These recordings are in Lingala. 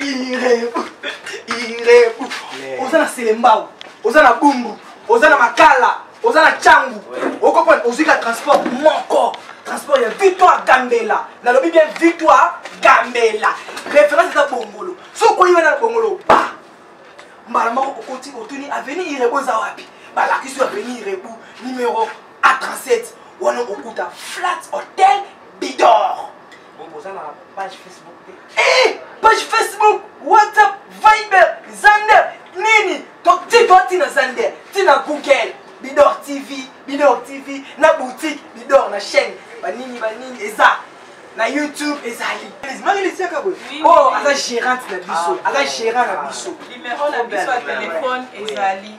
irebu irebu oza na selembao oza na bumbu oza na makala oza na cangu okopona ozwi ka transport moko transport ya victoire gambela nalobi bien victoire gambela référence eza bongolo soki okoyi wana na bongolo ba mbala moko okoti otuni aveni irebu eza wapi balakisi yo aveni irebu numero a 37 wana okuta flat hotel bidor Donc oza na page Facebook te? Eh! Page Facebook, WhatsApp, Viber, Zander, nini? Donc ti toi ti na Zander, ti na Google, Bidor TV, Bidor TV, na boutique, Bidor na chaîne, ba nini ba nini eza. na youtube ezali marie lisiaka boye oyo aza gérante na biso aza gérant na biso numéro na biso ya telefone ezali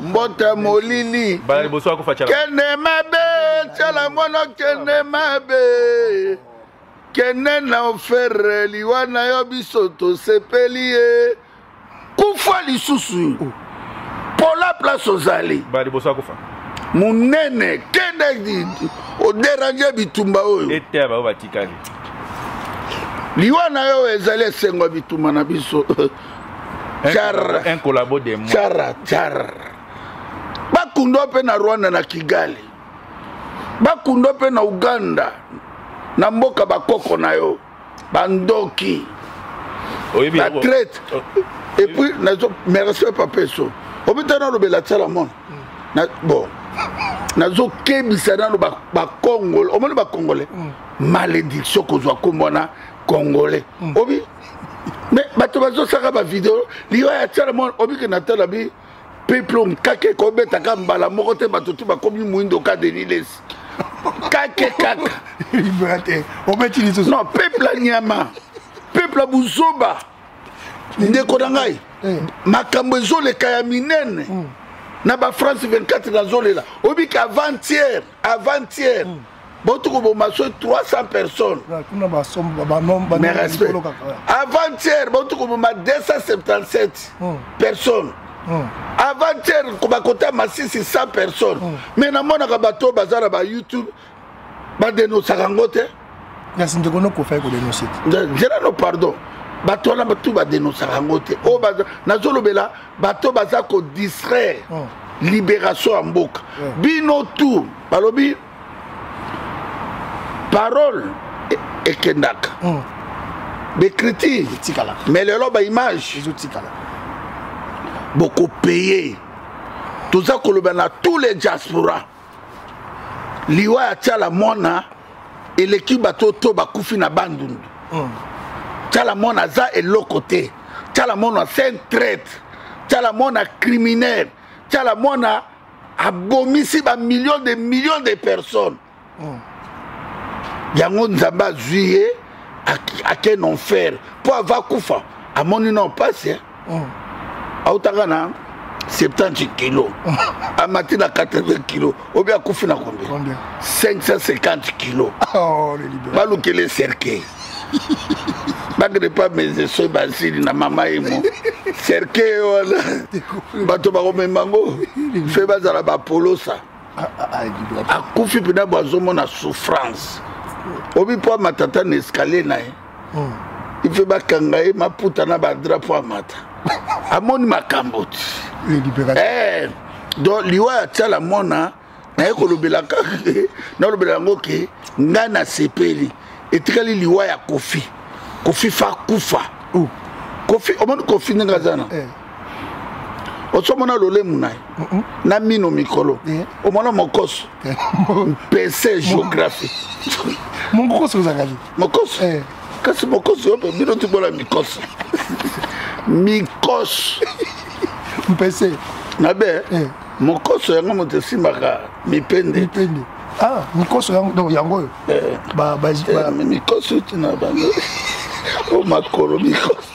mbote molili kende mabe tyala mwana kende mabe kende na ofere liwa na yo biso tosepeli ye kufa lisusu pola place ozali monene kende oderange bitumba oyo eteya baoyo batikali liwa na yo ezali esengo ya bitumba na biso Char. Un collabo de moi. Chara, char. Bakundwa mpe na Rwanda na Kigali. Bakundwa mpe na Uganda na mboka bakoko na yo. Bandoki. Oyebi La yango. traite. Oh. Et puis, nazo, mes respects papa eso. Obita na lobela tsala mon. Na bon. Nazo kebisa na ba ba Congolais. Omoni ba Congolais. Malédiction kozwa kombo na Congolais. Obi me bato bazosaka bavideo liwa ya tiala mwana obike na tala bi peplom kake kobetaka mbala moko te bato tu bakomi moindo ka denis lesi kake kaka non peuple anyama peuple ya buzoba ndeko na ngai eh. makambo ezoleka ya minene hmm. na bafrance 24 nazolela obika avant-hier avant-hier mm. bauti koboma so 300 personnes mais respect avant-hier bauti koboma 277 mm. personnes mm. avant-hier bakota masisi 100 personnes mm. mais namonaka bato baza na bayoutube badenosaka yango te kasi ndeko nokofa ye kodenonse te nzela no pardon bato wana batu badenosaka yango te oyo oh, nazolobela bato baza kodistraire oh. libération ya mboka oh. bino tour balobi parole e, ekendaka becriture mais lelo baimage bokopeye toza koloba na tous les diaspora liwa ya tiala mwana eleki bato to bakufi na bandundu mm. tiala mwana aza eloko te tiala mwana c'est un traite tiala mwana criminel tiala mwana abomisi bamillion de million de personnes mm. yango nzambe azwi ye akende enfer mpo ava kufa amoni na mpasi mm. autaka na 70 kilo amati na 80 kilo obi akufi na combien 550 kilo oh, balukele cercueil bakende pa mese soki basili na mama ye mo cercueil wana bato bakomema yango fe bazala bapolosa ah, ah, ah, akufi mpena bwazomona souffrance obi mpo amatata na escalier na ye hmm. ife bakanga ye maputa na badrapo amata amoni makambo ti eh, donc liwa ya tiala mona naye kolobela kaka ke nalobela yango ke ngai nasepeli etikali liwa ya kofi kofi fa kufa oh. kofi omoni kofi ndenge aza na eh. osomona lolemu na ye na mino mikolo eh. omona mokoso eh. mpese géographie monkokoso ozangaki mokosi eh. kasi mokosi oyo bino tibona mikosi mikosi mpese mabe eh. mokoso yango moto esimbaka mipende mipende ah mikoso yango yango oyo eh. ba ba eh, mikoso tina bango o makolo mikoso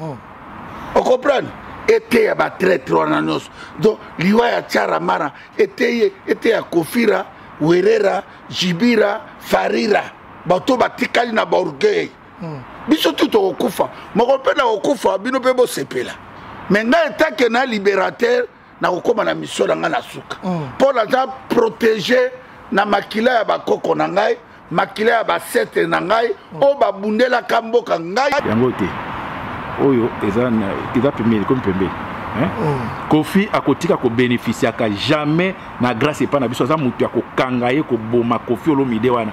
oh. ocomprendre eteya batraitre wana nyonso donc liwa ya tiara mara eteye eteya kofira werera jibira farira bato batikali na baorgueil hmm. biso tu tokokufa moko mpe na kokufa bino mpe bosepela me ngai etake na libérateur nakokoma na misio na ngai na suka mpo mm. naza protege na makila ya bakoko na ngai makila ya basetre na ngai mm. oyo babundelaka mboka ngai yango te oyo eza eza pembeni ekomi pembeni mm. kofi akotika kobenefisiaka jamais na grâce epai na biso aza moto ya kokanga ye koboma kofi olomide wana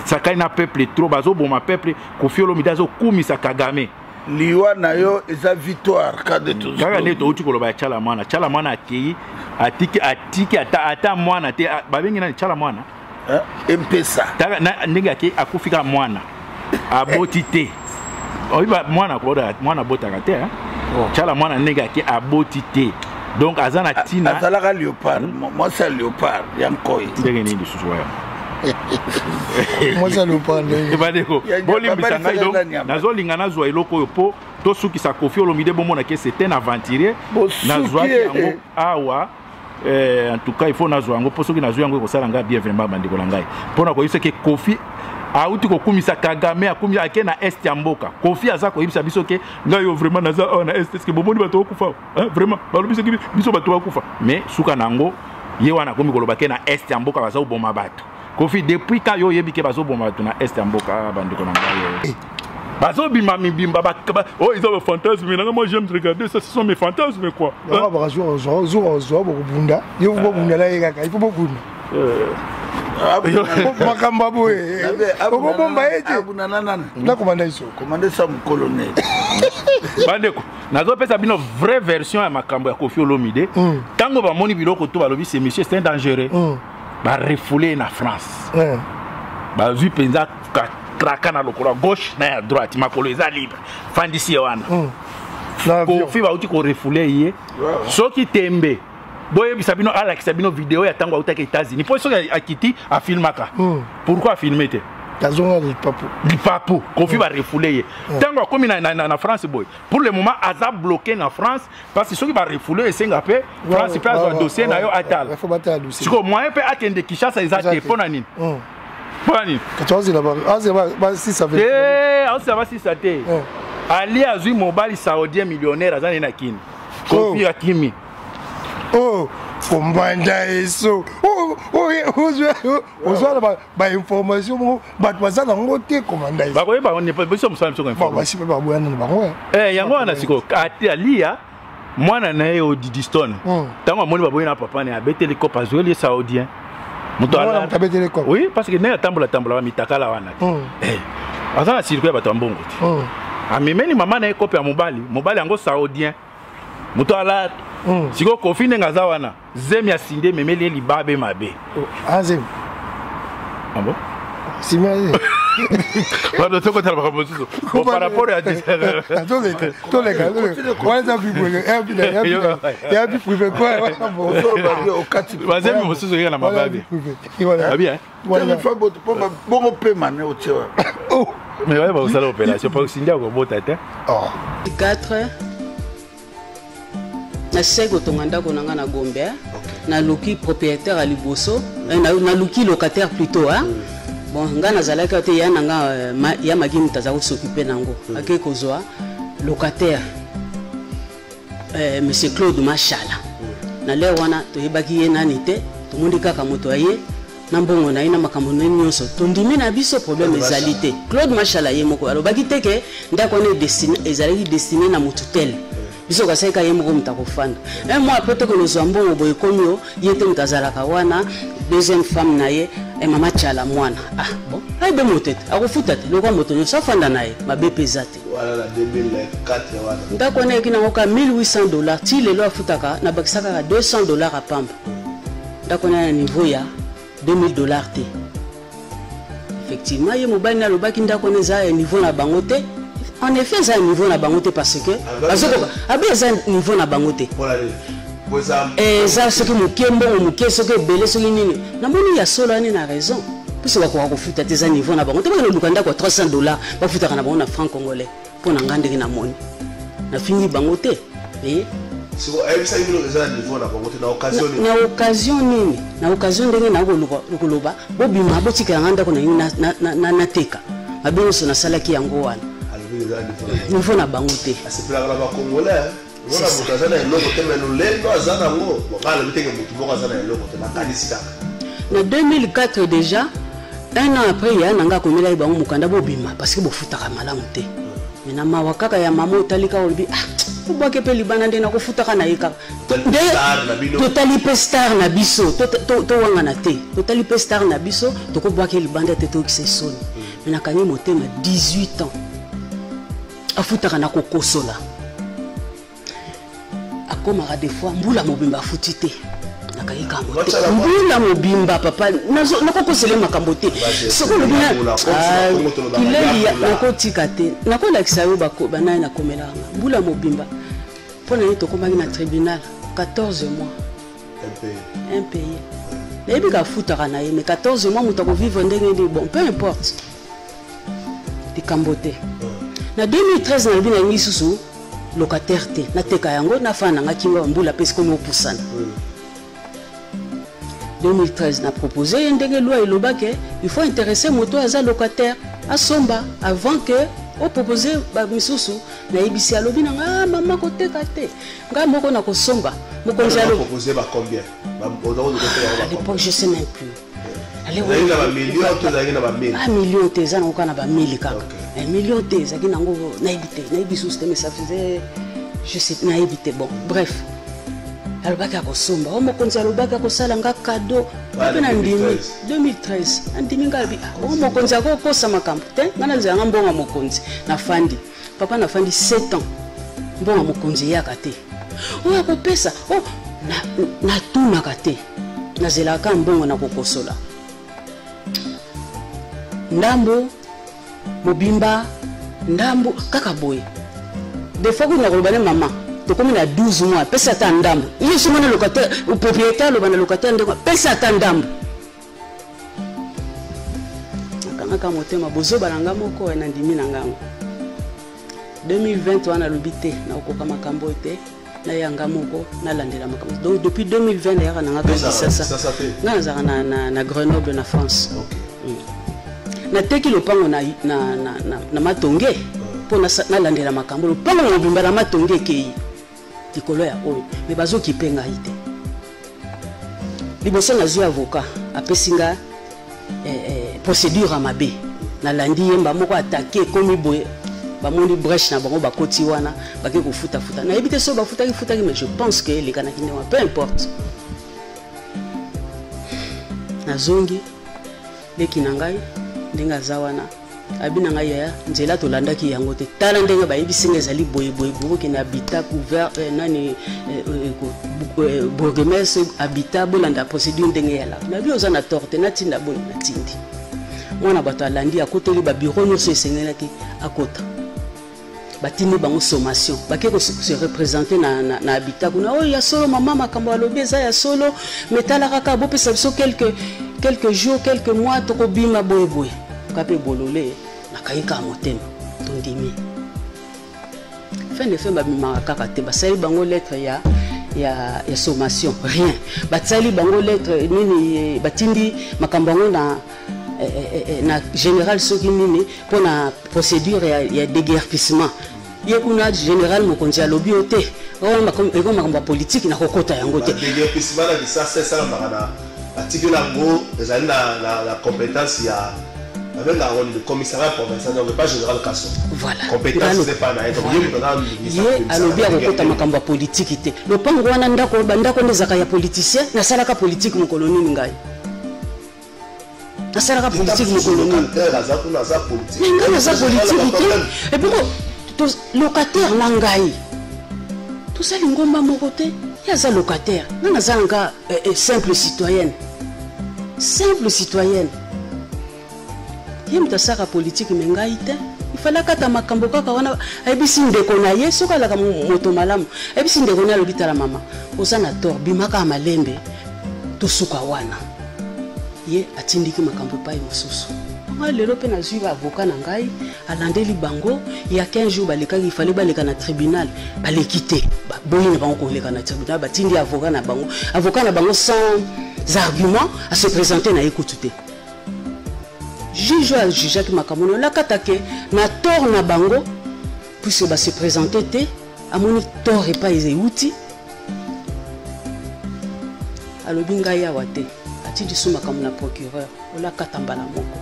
asakani na peuple trop bazoboma peuple kofi olomide azokumisa kagame liwa na yo eza victoire kaka nde touti koloba ya cala mwana cala mwana akei atiki atiki ata, ata mwana te babengi nani cala mwana eh, empesa ndenge akei akufi kaka mwana aboti te oyiba mwana koda mwana abotaka te oh. cala mwana ndenge akei aboti te donc aza na ntina azalaka leopard hmm? mwasi ya leopard ya nkoi ndenge nini lisusu waya mwasi alopa ndenge bandeko bolimbisa ngai donc nazolinga nazwa eloko oyo mpo tosukisa kofi olomide bomona ke c'est un aventurier nazwaki yango awa eh, en tout cas il faut nazwa yango mpo soki nazwi yango ekosala ngai bien vraiment bandeko na ngai mpo na koyebisa ke kofi auti kokumisa kagame akumi ake na est ya mboka kofi aza koyebisa biso ke ngai yo vraiment naza awa na est eske bomoni bato okufa eh, vraiment balobi soki biso bato bakufa mais suka na yango ye wana akomi koloba ke na est ya mboka baza koboma bato kofi depuis ka yo oyebi ke bazoboma bato na est ya mboka ah, bandeko na ngai eh. bazobima mibimba oyo eza bafantasme nanga moi j'aime regarder ça ce sont mes fantasmes quoi bakazwa ozwa bokobunda yo bobunda na ye kaka il faut bobunda eh. Ah, makambo ya boye okobomba ye te nakobanda iso komanda sa mokolonel bandeko nazopesa bino vraie version ya makambo ya kofi olomide ntango mm. bamoni biloko to balobi ce monsieur c'est un dangereux mm. barefoule ye na france mm. bazwi mpenza traka na lokolo ya gauche na ya droite makolo eza libre fandisi ye wana mm. kofi bauti korefoule ye soki tembe boyebisa bino alakisa bino video ya ntango autaki états-unis mpo soki akiti afilmaka hmm. pourkui afilme te azonga lipapu lipapu kofi hmm. barefoule ye hmm. ntango akomi na france boye pour le moment aza bloqué na france parce que soki barefoule esenga mpe france mpe azwa dossier na yo atala sikoyo moyen mpe akende kinshasa eza te mpo na nini mpo na nini asila basisa te eh, ali azwi mobali saudien millionnaire aza nde na kini kofi akimi oh kombanda eso oh, oh, eh, ozwa na bainformation moko bato baza nango te komanda esobakoyebabiso mosala bisobasi mpe baboyana na bango eh. Eh, yango wana sikoyo aliya mwana na ye odidistone ntango hmm. amoni baboyi na papa na ye abeteli kope azweli ye saudien moto abetele koko oui parce que ndenge atambola tambola mitakala wana te hmm. eh, aza na circuit ya bato ya mbongo te hmm. amemeli mama na ye kope ya mobali mobali yango saudien moto ala hmm. sikoyo kofi ndenge aza wana zemi ya sinde ememeli ye libabe mabe oh, azemi ah, abo sima ye bato tokotala makambo mosusu par rapport ya toleka wana vie privé ya vie privé bazemi mosusu kaka na mababi bongo pema ne otie mais oye bakosala opération mpo osindi akobota te 4 nasisaki kotonga ndako na ngai na gombe naluki propriétaire ya liboso naluki locataire plutôt bon ngai nazalaki awa te ya na nga euh, ma, ya magi moto aza kosokipe na yango mm. akei kozwa locataire euh, monsieur claude mashala mm. na lere wana toyebaki ye nani te tomoni kaka moto ya ye na mbongo na ye na makambo na ye nyonso tondimi na biso problème ezali te claude mashala ye moko alobaki te ke ndako wana ezalaki destine na motu tele biso kasaika ye moko moto akofanda un mois après tokende ozwa mbongo boye ekomi yo ye te moto azalaka wana deuxième femme na ye e mama tiala mwana ah bon ayebe moto ete akofuta te lokwa moto nyonso afanda na ye mabe mpe eza te ndako wana eyaki nango ka 1800 dollar ti lelo afutaka nabakisa kaka 200 dollar apamba ndako wana na niveau ya 2000 dollars te effectivement ye mobali nalobaki ndako wana eza ya niveau na bango te en effet eza ya niveau na bango te parce que bazokoka abe eza niveau na bango te eh, eza soki moke mbongo moke soki ebele soki nini namoni ya solo ani na raison mposo bakoka kofuta te eza niveau na bango te bakende luka ndako ya 300 dollars bafutaka na bango na franc congolais mpo na ngai ndenge namoni nafingi bango te eh? na occasion nini na occasion ndenge nakoloba bobima botikela ngai ndako na nini nateka mabe nyonso nasalaki yango wana nivo na bango te mona moto aza na eloko te me lolendo aza nango bokala lobi teke motu moko aza na eloko te nakanisi kaka na 2004 déjà un an après ya nanga akomelaki bango mokanda bobima parce que bofutaka malamu te me na mawa kaka ya mama otali kaka olobi ah obwaki mpe libana nde nakofutaka na ye kaka nde totali mpe star na biso towangana te totali mpe star na biso tokobwaki libanda te toyokisa esoni me nakangi motema 18 ans afutaka na kokosola akomaka de fois mbula mobimba afuti te nakaki kambo te mbula mobimba papa nakokosele makambo te soki olobi kileli ah, nakotika te nakolakisa yo banaye nakomelaka mbula mobimba mpo na ye tokomaki na tribunal 14 mois un pays nayebi kafutaka na ye mais 14 mois moto akovivre ndenge nini bon peu importe likambo te na 2013 nalobi na yangi lisusu locataire te nateka yango nafana nanga kinga bambula mpe sikomi opusana 2013 na propose ye ndenge loi elobaki il faut interesse moto oyo aza locataire asomba avant que opropose bamisusu nayebisi alobi na nga ah, mama koteka te ngai moko nakosomba mokonzi alo je sais même plus ezalaki na bamilio to ezalaki na bamili ah, milio te eza nango kaka na bamili kaka eh, milio te ezalaki nango nayebi te nayebi susu te mais ça faisait je sais nayebi te bon bref alobaki akosomba o mokonzi alobaki akosala nga kado mpe na ndimi 2013 andimi nga alobi o mokonzi akokosa makambo te ngai nazela nga mbongo ya mokonzi nafandi papa nafandi 7 ans mbongo mokonzi eyaka te oyo akopesa o oh, natunaka te nazelaka mbongo na kokosola ndambo mobimba ndambo kaka boye defo kuna koloba ne mama tokomi na 12 mois pesa ata ndambo ye soki na locataire propriétaire aloba na locataire ndeko pesa ata ndambo nakangaka motema bozoba na nga moko eh, nandimi na ngango 2020 wana alobi te nakokoka makambo oyo te naya nga moko nalandela makambo donc depuis 2020 nayaka na nga kisasa nga nazalaka na, na, na grenoble na france okay. mm. nateki lopango na, na, na, na, na matonge mpo nalandela makambo lopango na mobimba na matonge ekei likolo ya oyo me bazokipe ngai te liboso nazwi avocat apesi nga eh, eh, procédure ya mabe nalandi ye mba moko atake ekomi boye bamoni breche na bango bakoti wana bake kofutafuta nayebi te soki bafutaki futaki mais je pense ke elekanaki nde wana peu importe nazongi leki na ngai ndenge aza wana abi na ngai yaya nzela tolandaki yango te tala ndenge bayebisi nga ezali boyeboye bokokende abita couvert eh, nani eh, eh, eh, eh bourgemestre abita bolanda procédure ndenge ya laka nabi oza na tort te natinda boye natindi mwana bato alandi akoteli babiro nyonso esengelaki akota batindi bango sommation bake se représente na, na, na habitat kuna oyo oh, ya solo mama makambo alobi eza ya solo me tala kaka bopesa biso quelques, quelques jours quelques mois tokobima boyeboye ka mpe bolole nakai kaka motema tondimi fin de fin babimaka kaka te basali bango lettre ya ya, ya sommation rien batsali bango lettre nini batindi makambo yango na Eh, eh, eh, na général soki nini mpo na procédure ya, ya déguerpissement ye kuna général mokonzi alobi yo te wana eko makambo ya politike nakokota yango te déguerpissement na lisasa esalamaka na batikeli yango ezali na compétence ya babengaka ngo nini commissariat provincial donc pas général kaso voilà compétence eza epai na ye donc ye moto aza ye alobi akokota makambo ya politiki te lopango wana ndako bandako nde ezalaka ya politicien nasalaka politiki mokolo nini ngai asalaka politike mokolo nini ngai naza politike te epoko locataire na ngai toza lingomba moko te ye aza locataire ngai naza nanga eh, eh, simple citoyenne simple citoyenne ye moto asalaka politike me ngai te ifale akata makambo kaka wana ayebisi ndeko na ye soki alaka moto malamu ayebisi ndeko na ye alobi tala mama oza na tor bimakaka malembe tosuka wana ye atindiki makambo epai mosusu ngai lelo mpe nazwi baavoka na ngai alandeli bango ya 15 jours balekaki ifale baleka na tribunal baleki te baboyi na bango koleka na tribunal batindi avoka na bango avoka na bango sans argument ase présente na ye kutu te juge oyo ajujaki makambo na olakatake na tort na bango puisque base présente te amoni tort epai eza euti alobi ngai awa te ati lisu makambo na procureur olakata mbala moko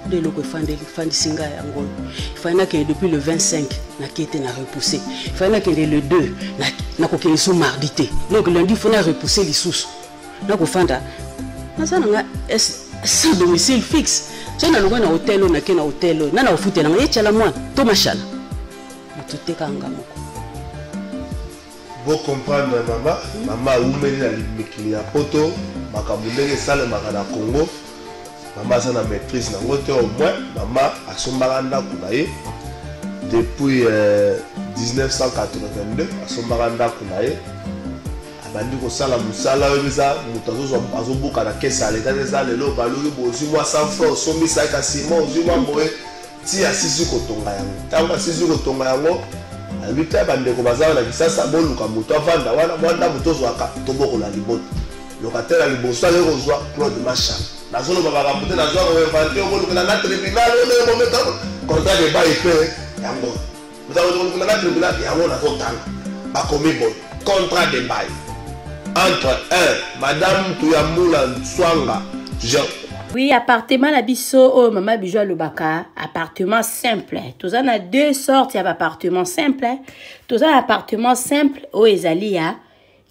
nde eloko efandeli efandisi ngai yango oyo efali nakende depuis le 25 nakei te na repousse efali nakende le 2 nakokende so mardi te donc lundi fo na repousse lisusu nakofanda naza na nga sans domicile fixe so nalongai na hotel oyo nake na hotel oyo na na kofutela ngai ecala mwana to mashala motuteka nga moko bocomprendre mama mama awumeli na mikili ya poto makambo ndenge esalemaka na congo mama aza na maîtrise nango te au moins mama asombaka ndako na ye depuis euh, 1982 asombaka ndako na ye abandi kosala mosala oyo eza moto azobuka na kesi ya leta te eza lelo baluki bozwi mwa 100 franc osombisaki kasi mwa ozwi mwa boye Ti asisi kotonga yango. Ntango asisi kotonga yango, alobi, Tala bandeko baza awa na Kisasa, boluka moto avanda wana, mwa ndako tozwaka, tobokola libota. Locataire ya liboso akei kozwa Claude Masha. Nazoloba makambo te, nazwaka ko inventer, okolukela nga tribunal, oyo bomeka contrat de bail mpe yango. Nzala ozokokuna na tribunal yango nazotanga bakomi boye contrat de bail entre un madame tuyambula nswanga oui appartement na biso oyo mama bijo alobaka appartement simple toza na deux sortes ya baappartement simple toza na appartement simple oyo ezali ya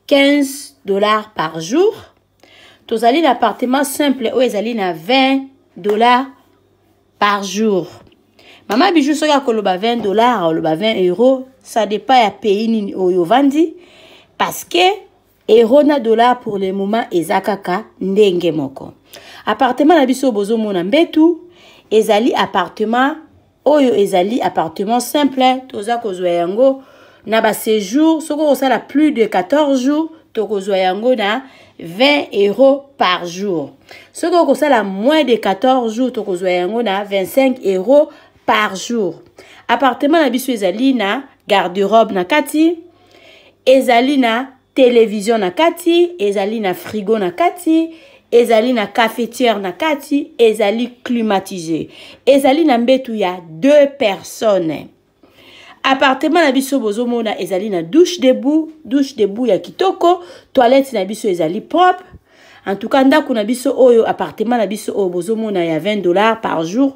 15 dollars par jour tozali na appartement simple oyo ezali na 20 dollars par jour mama bijou soki akoloba 20 dollars akoloba 20 euro ça dépend ya pays nini oyo ovandi parce que euro na dollar pour le moment eza kaka ndenge moko appartement na biso bozomona mbetu ezali appartement oyo ezali appartement simple toza kozwa yango na ba séjour soki okosala plus de 14 jours tokozwa yango na 20 euros par jour soki okosala moins de 14 jours tokozwa yango na 25 euros par jour appartement na biso ezali na garde-robe na kati ezali na televizio na kati ezali na frigo na kati ezali na cafetiere na kati ezali climatise ezali na mbetu ya deux personnes appartement na biso bozomona ezali na douche debout douche debout ya kitoko toilette na biso ezali propre en tout cas ndako na biso oyo appartement na biso oyo bozomona ya 20 dollars par jour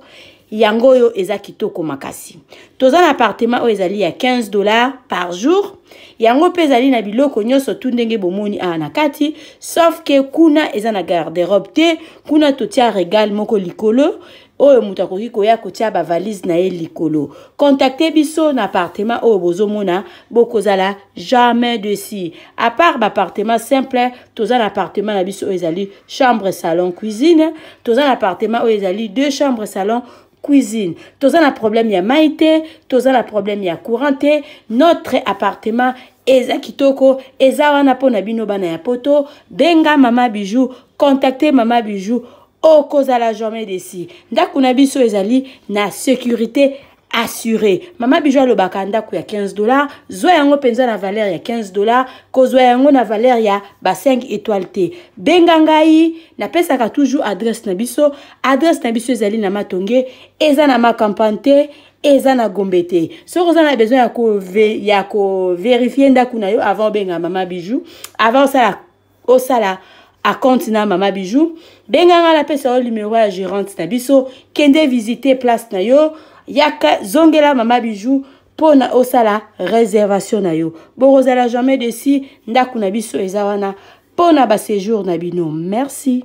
yango oyo eza kitoko makasi toza na appartement oyo ezali ya 15 dollars par jour yango mpe ezali na biloko nyonso tu ndenge bomoni awa na kati sauf ke kuna eza na garderobe te kuna totia regal moko likolo oyo moto akoki koya kotia bavalise na ye likolo kontakte biso na apartema oyo bozomona bokozala jamais desi apart baapartema simple toza na apartema na biso oyo ezali chambre salon cuisine toza na apartema oyo ezali deux chambre salon cuisine toza na problème ya mai te toza na problème ya courant te notre appartement eza kitoko eza wana mpo na bino bana ya poto benga mama bijou contacte mama bijou okozala jamais desi ndako na biso ezali na sécurité assuré mama bijo alobaka ndako ya 15 dollar zwa yango mpenza na valeur ya 15 dollar kozwa yango na valeur ya ba 5 étoile te benga ngai napesaka toujours adresse na biso adresse na biso ezali na matonge eza na makampane te eza na gombe te soki oza na besoin ya koverifie ndako na yo avant obenga mama bijou avant osala osala acompte na mama bijou benga ngai napesa yo numero ya gérante na biso kende visite place na yo yaka zongela mama bijou mpo na osala réservation na yo bokozala jamais desi ndako na biso eza wana mpo na baséjour na bino merci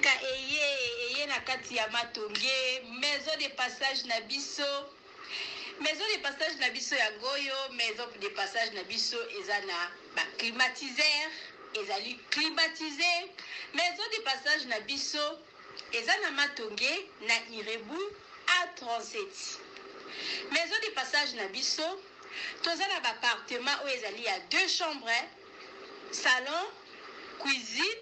mboka eye eye na kati ya matonge maison de passage na biso maison de passage na biso yango oyo maison de passage na biso eza na baclimatiseur ezali climatise maison de passage na biso Eza na Matonge na Irebu A 37 maison de passage na biso toza na ba appartement oyo ezali ya deux chambre salon cuisine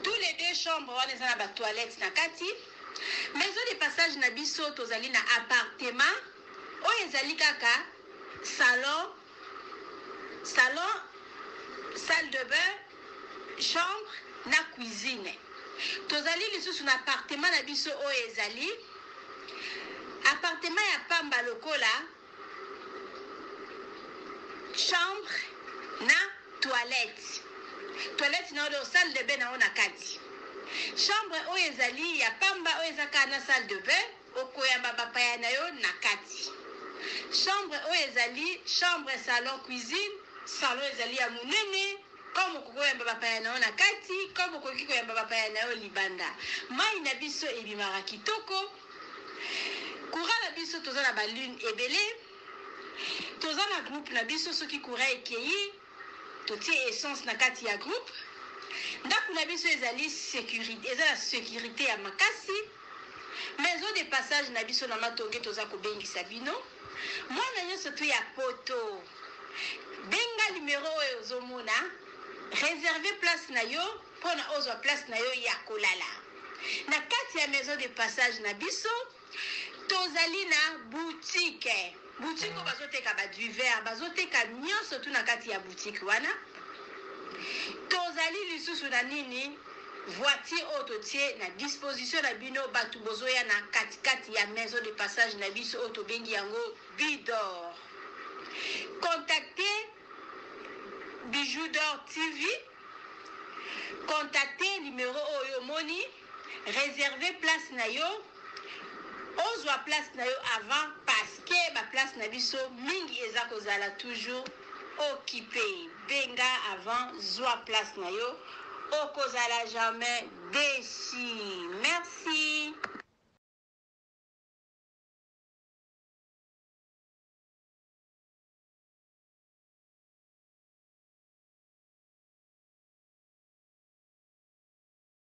tout les deux chambre wana eza na ba toilette na kati maison de passage na biso tozali na appartement oyo ezali kaka salon Salon, salle de bain, chambre na cuisine. Tozali lisusu na appartement na biso oyo ezali appartement ya pamba lokola chambre na toilette. Toilette na oyo salle de bain na oyo na kati. Chambre oyo ezali ya pamba oyo eza kaka na salle de bain. Okoyamba bapaya na yo na kati. Chambre oyo ezali chambre, salon, cuisine. Salon ezali ya monene comme okoki oyamba bapaya na yo na kati comme okoki koyamba bapaya na yo libanda. Mayi na biso ebimaka kitoko. Courant na biso toza na ba lune ebele. Toza na groupe na biso soki courant ekeyi. Totie essence na kati ya groupe. Ndaku na biso ezali securite, eza na securite ya makasi. Maison de passage na biso na Matonge toza kobengisa bino. Mwana nyonso tu ya poto. Benga numero oyo ozomona. Reserve place na yo mpona ozwa place na yo ya kolala. Na kati ya maison de passage na biso Tozali na boutique, boutique oyo bazo teka ba duver, bazo teka nionso tout na kati ya boutique wana. Tozali lisusu na nini? voiture oyo totie na disposition na bino bato bozoya na katikati ya maison de passage na biso oyo tobengi yango bidor contacte bijou dor tv contacte numero oyo omoni Reserver place na yo ozwa place na yo avant parce que ba place na biso mingi eza kozala toujours occupe benga avant zwa place na yo okozala jamais deçu merci.